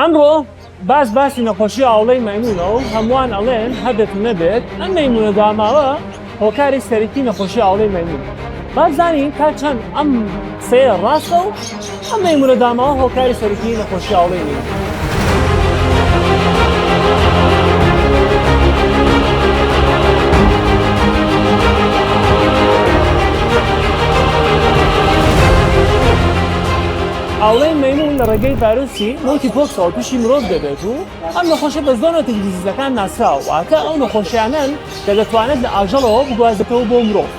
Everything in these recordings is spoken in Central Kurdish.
ئەمڕۆ باش باسی نەخۆشی ئاوڵەی مەمونە و هەمووان ئەڵێن هەبێت و نەبێت ئەم مەمونە داماوە هۆکاری سەرەکی نەخۆشی ئاوڵەی مەمون بازانین تا چەند ئەم سەیە ڕاستە و ئەم مەمونە داماوە هۆکاری سەرەکی نەخۆشی ئاوڵەی مەمون ئاوڵەی مەیموون لە ڕێگەی ڤایرۆسی مۆنکی پۆکسەوە تووشی مرۆڤ دەبێت و ئەم نەخۆشە بە زۆر نەتەجی دیزیزەکان ناسراوە واتە ئەو نەخۆشیانەن کە دەتوانێت لە ئاژەڵەوە بگوازێتەوە بۆ مرۆڤ.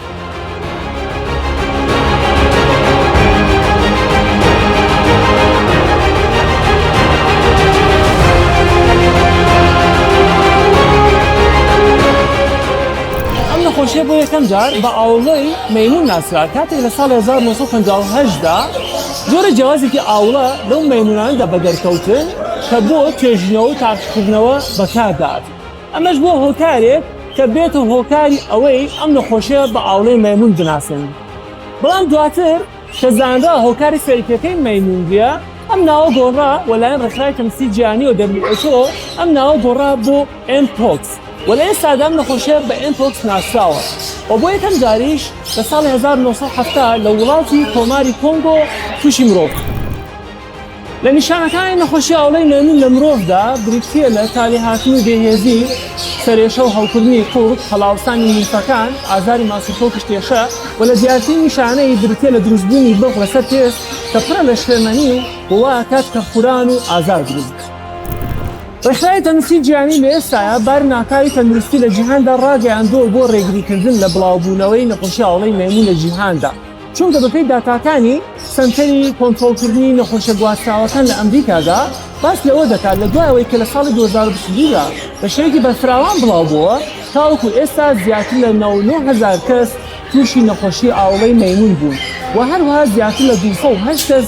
نەخۆشیە بۆ یەکەم جار بە ئاوڵۆی مەمون ناسرا کاتێک لە ساڵ 1950دا جۆرە جیاوازێکی ئاوڵە لەو مەیمونانەدا بەدەرکەوتن کە بۆ توێژینەوە و تاقیکردنەوە بەکاردات، ئەمەش بووە هۆکارێک کە بێتە هۆکاری ئەوەی ئەم نەخۆشیە بە ئاوڵەی مەیمون بناسێنن، بەڵام دواتر کە زانرا هۆکاری سەرەکیەکەی مەیمونریە ئەم ناوە گۆڕا و لەلایەن ڕێکخراوی تەندروستی جیهانی و who ئەم ناوە گۆڕا بۆ. Mpox، و لە ئێستادا ئەم نەخۆشییە بە Mpox ناسراوە و بۆ یەکەم جاریش لە ساڵی هەزار و نۆ سەد و حەفتا لە وڵاتی کۆماری کۆنگۆ تووشی مرۆڤ کرد. لە نیشانەکانی نەخۆشی ئاوڵەی مەیمون لە مرۆڤدا بریتییە لە کالیهاتن و بێهێزی، سەرێشە و هەوکردنی قوڕگ، هەڵاوسانی لیمفەکان، ئازاری ماسولکە و کشتێشە، و لە دیارترین نیشانەی بریتییە لە دروستبوونی بەغ لەسەر پێست کە پڕە لە شلەمەنی و وایکات کە خوران و ئازار دروست بکات. ڕێکخراوی تەندروستی جیهانی لە ئێستایا باری ناکاوی تەندروستی لە جیهاندا ڕاگەیاندووە بۆ ڕێگریکردن لە بڵاوبوونەوەی نەخۆشی ئاوڵەی مەیموون لە جیهاندا، چونکە بەپێی داتاکانی سەنتەری کۆنترۆڵکردنی نەخۆشیە گواستراوەکان لە ئەمریکادا باس لەوە دەکات لە دوای ئەوەی کە لە ساڵی دوو هەزار و بیست و دوو دا بە شێوەیەکی بەرفراوان بڵاوبۆوە تاوەکو ئێستا زیاتر لە نۆ نۆ هەزار کەس تووشی نەخۆشی ئاوڵەی مەیموون بوون و هەروەها زیاتر لە دوو سەد و هەشت کەس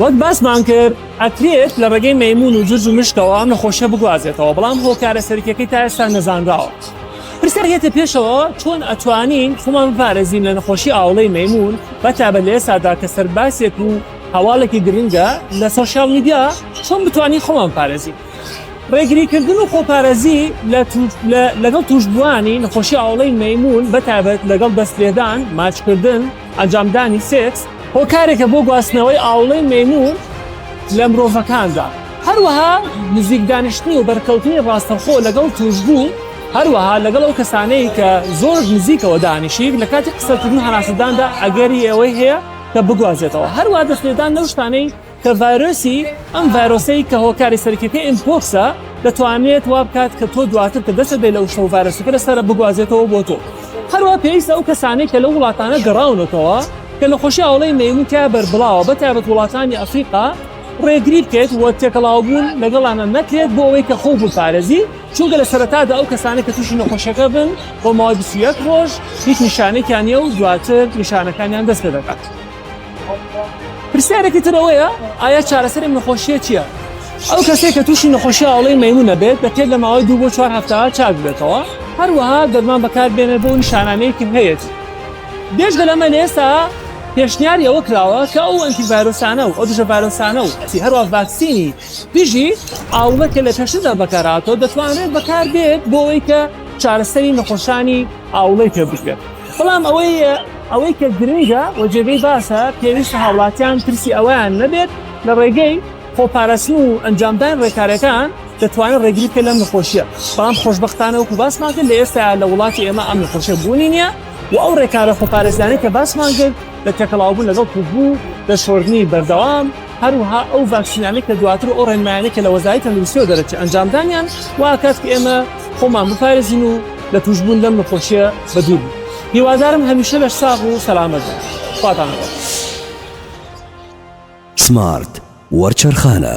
وەک باسمان کرد ئەکرێت لە ڕێگەی مەمون و جرج و مشکەوە ئەم نەخۆشیە بگوازێتەوە بەڵام هۆکارە سەرکیەکەی تا ئێستا نەزانراوە پرسیار هێتە پێشەوە چۆن ئەتوانین خۆمان بپارێزین لە نەخۆشی ئاوڵەی مەمون بەتابە لە ئێستادا کە سەرباسێک و هەواڵێکی گرنگە لە سوۆسیال میدیا چۆن بتوانین خۆمان پارێزین ڕێگریکردن و خۆپارێزی لەگەڵ توشبووانی نەخۆشی ئاوڵەی مەمون بەتابەت لەگەڵ دەستێدان ماچکردن ئەنجامدانی سێکس هۆکارێکە بۆ گواستنەوەی ئاوڵەی مەیمون لە مرۆڤەکاندا، هەروەها نزیک دانیشتن و بەرکەوتنی ڕاستەوخۆ لەگەڵ تووشبوو، هەروەها لەگەڵ ئەو کەسانەی کە زۆر نزیکەوە دانیشیت لە کاتی قسەکردن و هەناسەداندا ئەگەری ئەوەی هەیە کە بگوازێتەوە، هەروەها دەستلێدان لەو شتانەی کە ڤایرۆسی ئەم ڤایرۆسەی کە هۆکاری سەرکیەکە ئیمپۆکسە دەتوانێت وا بکات کە تۆ دواتر کە دەچە بێ لە وشە و ڤایرۆسەکە لەسرە بگوازێتەوە بۆ تۆ هەروە پێویستە ئەو کەسانەی کە لە وڵاتانە گەڕاونەتەوە کە لە خۆشی ئاڵەی مەمون تیا بەربڵاوە بە تابەت وڵاتانی ئەفریقا ڕێگری بکەێت وە تێکەڵاوبوون لەگەڵانە نەکرێت بۆ ئەوەی کە خۆ بپارێزی چونکە لە سەرتادا ئەو کەسانە کە تووشی نەخۆشیەکە بن بۆ ماوەی بسیەک ڕۆژ هیچ نیشانێکیانە و دواتر نیشانەکانیان دەست پێ دەکات. پرسیارێکی تر ئەوەیە ئایا چارەسەری نەخۆشیە چییە؟ ئەو کەسێک کە تووشی نەخۆشی ئاڵەی مەمونە بێت دەکرێت لە ماوەی دوو بۆ چوار هەفتە چاک بێتەوە هەروەها دەرمان بەکاربێنێت بۆ نیشانانەیەکی هەیەت بێژگە لەمە لە ئێستا پێشنیاری ئەوە کراوە کە ئەو ئەنتی ڤایرۆسانە و ئەو دژە ڤایرۆسانە و ئەسی هەروە ڤاکسینی دژی ئاوڵە کە لە پێشتدا بەکاراتۆ دەتوانرێت بەکار بێت بۆ ئەوەی کە چارەسەری نەخۆشانی ئاوڵەی پێ بکرێت بەڵام ئەوەی ئەوەی کە گرنگە و جێگەی باسە پێویستە هاوڵاتیان ترسی ئەوەیان نەبێت لە ڕێگەی خۆپارستن و ئەنجامدان ڕێکارەکان دەتوانن ڕێگری بکە لەم نەخۆشیە بەڵام خۆشببختانە وەکو باسمان کرد لە ئێستا لە وڵاتی ئێمە ئەم نەخۆشە بوونی نییە و ئەو ڕێکارە خۆپارێزانانی کە باسمان کرد لە تێکەڵاوبوون لەگەڵ کوردبوو لە شۆردنی بەردەوام هەروەها ئەو ڤاکسینانەی کە دواتر ئەو ڕێنمایانەی کە لە وەزاری تەندروستیەوە دەرەچێت ئەنجامدانیان واکات کە ئێمە خۆمان بپارێزین و لە تووشبوون لەم نەخۆشیە بە دوور بین هیوادارم هەمیشە لە ساغ و سەلامەت بن خواتان لەگەڵ سمارت وەرچەرخانە.